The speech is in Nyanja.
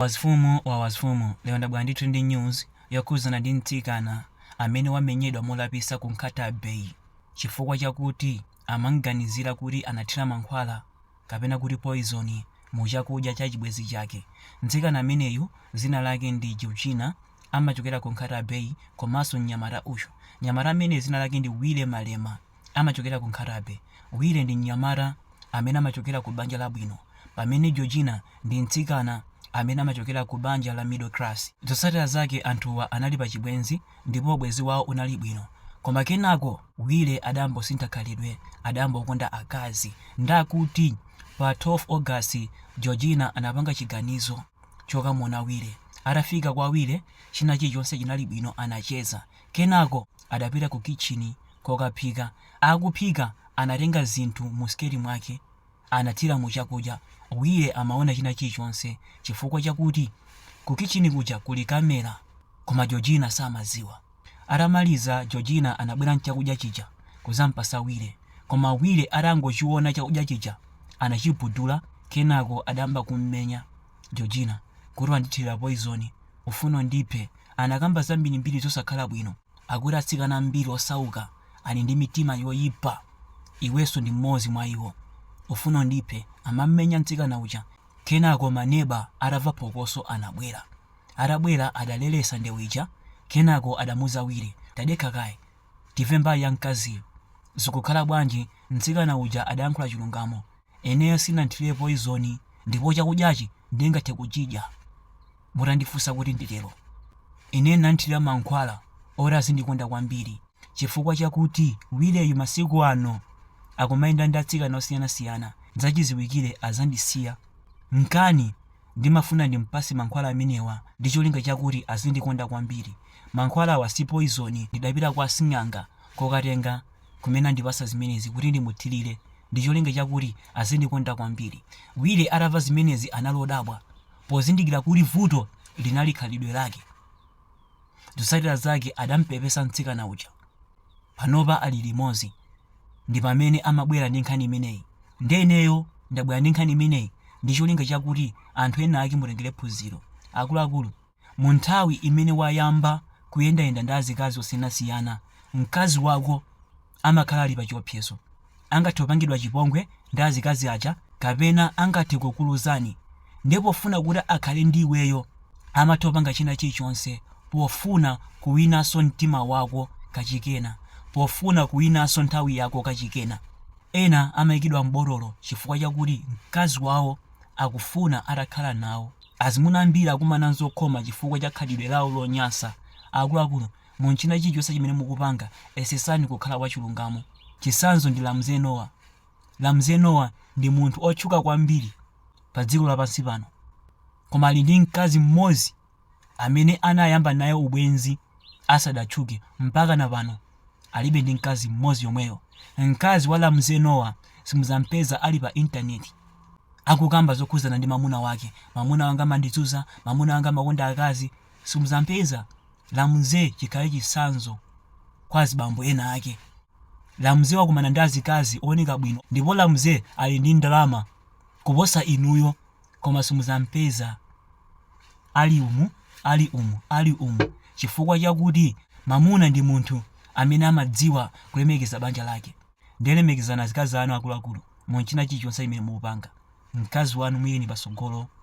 Mafumu ndi mafumu lero ndabwera ndithu ndi news yokhudzana ndi mtsikana amene wamenyedwa molapisa ku Nkhatabay chifukwa chakuti amamuganizira kuti anathira mankhwala kapena kuti poison mu chakudya cha chibwenzi chake. Mtsikana ameneyu dzina lake ndi Georgina amachokera ku Nkhatabay komanso mnyamata uyu mnyamata ameneyu dzina lake ndi Wire Malema. amachokera ku Nkhatabay, Wire ndi mnyamata amene amachokera ku banja labwino pamene Georgina ndi mtsikana amene amachokera ku banja la middle class. Zotsatira zake anthuwa anali pa chibwenzi ndipo ubwenzi wawo unali bwino koma kenako Wire adayamba kusintha khalidwe adayamba kukonda akazi ndiye kuti pa 12 August Georgina anapanga chiganizo chokamuona Wire. Atafika kwa Wire china chilichonse chinali bwino anacheza kenako adapita ku kitchini kokaphika. Akuphika anatenga zinthu mu siketi mwake anathira mu chakudya. Wire amaona china chilichonse chifukwa chakuti ku kitchini kuja kuli camera koma Georgina samadziwa. Atamaliza Georgina anabwera nchakudya chija kuzampatsa Wire koma Wire atangochiona chakudya chija anachibudula kenako adayamba kummenya Georgina kuti wandithilira poison ufuna undiphe anakamba zambirimbiri zosakhala bwino. Akuti atsikana ambiri osauka ali ndi mitima yoyipa iwenso ndi mmodzi mwa iwo ufuna undiphe amam'menya mtsikana uja kenako ma neba atava phokoso anabwera atabwera adaleletsa ndewu ija kenako adamuuza Wire tadekha kaye tive mbali ya mkaziyu zikukhala bwanji mtsikana uja adayankhula chilungamo Ineyo sindinathire poizoni ndipo chakudyachi ndingathe kuchidya mutandifunsa kuti nditero. Ine ndinathira mankhwala oti azindikonda kwambiri chifukwa chakuti Wireyu masiku ano akumayenda ndi atsikana osiyanasiyana, zachiziwikire azandisiya. Mchake ndimafuna ndimpase mankhwala amenewa ndi cholinga chakuti azindikonda kwambiri. Mankhwalawa si poizoni ndidapita kwa asing'anga kokatenga kumene anandipatsa zimenezi kuti ndimuthirire ndi cholinga chakuti azindikonda kwambiri. Wire atamva zimenezi anali wodabwa pozindikira kuti vuto linali khalidwe lake. Zotsatira zake adamupepesa mtsikana uja. Panopa ali limodzi. Ndi pamene amabwera ndi nkhani imeneyi. Ndiye ineyo ndabwera ndi nkhani imeneyi ndi cholinga chakuti anthu ena ake mutengere phunziro. Akuluakulu, Mu nthawi imene wayamba kuyendayenda ndi azikazi osiyanasiyana, mkazi wako amakhala ali pa chiopsezo. Angathe kupangidwa chipongwe ndi azikazi aja kapena angathe kukuluzanso. Ndiye pofuna kuti akhale ndi iweyo amatha kupanga china chilichonse pofuna kuwinanso mtima wako kachikenanso, pofuna kuwinanso nthawi yako kachikena. Ena amayikidwa m'botolo chifukwa chakuti mkazi wawo akufuna atakhala nawo. Azimuna ambiri akumana nzokhoma chifukwa cha khalidwe lawo lonyansa. Akuluakulu, mu nchina chilichonse chimene mukupanga, yesetsani kukhala wachilungamo. Chitsanzo ndi Ramsey Nouah. Ramsey Nouah ndi munthu otchuka kwambiri pa dziko lapansi pano. Koma ali ndi mkazi mmodzi amene anayamba naye ubwenzi asadatchuke mpakana pano. alibe, ndi mkazi mmodzi yomweyo mkazi wa Ramsey Nouah simuzampeza ali pa intaneti akukamba zokhudzana ndi mamuna wake mamuna wanga amandizunza mamuna wanga amakonda akazi simuzampeza Ramsey chikhale chitsanzo kwa azibambo enaake Ramsey wakumana ndi azikazi ooneka bwino ndipo Ramsey ali ndi ndalama kuposa inuyo koma simuzampeza ali umu ali umu ali umu chifukwa chakuti mamuna ndi munthu amene amadziwa kulemekeza banja lake ndiye lemekezani azikazi anu akuluakulu munchina chilichonse chimene mukupanga mkazi wanu muyikeni patsogolo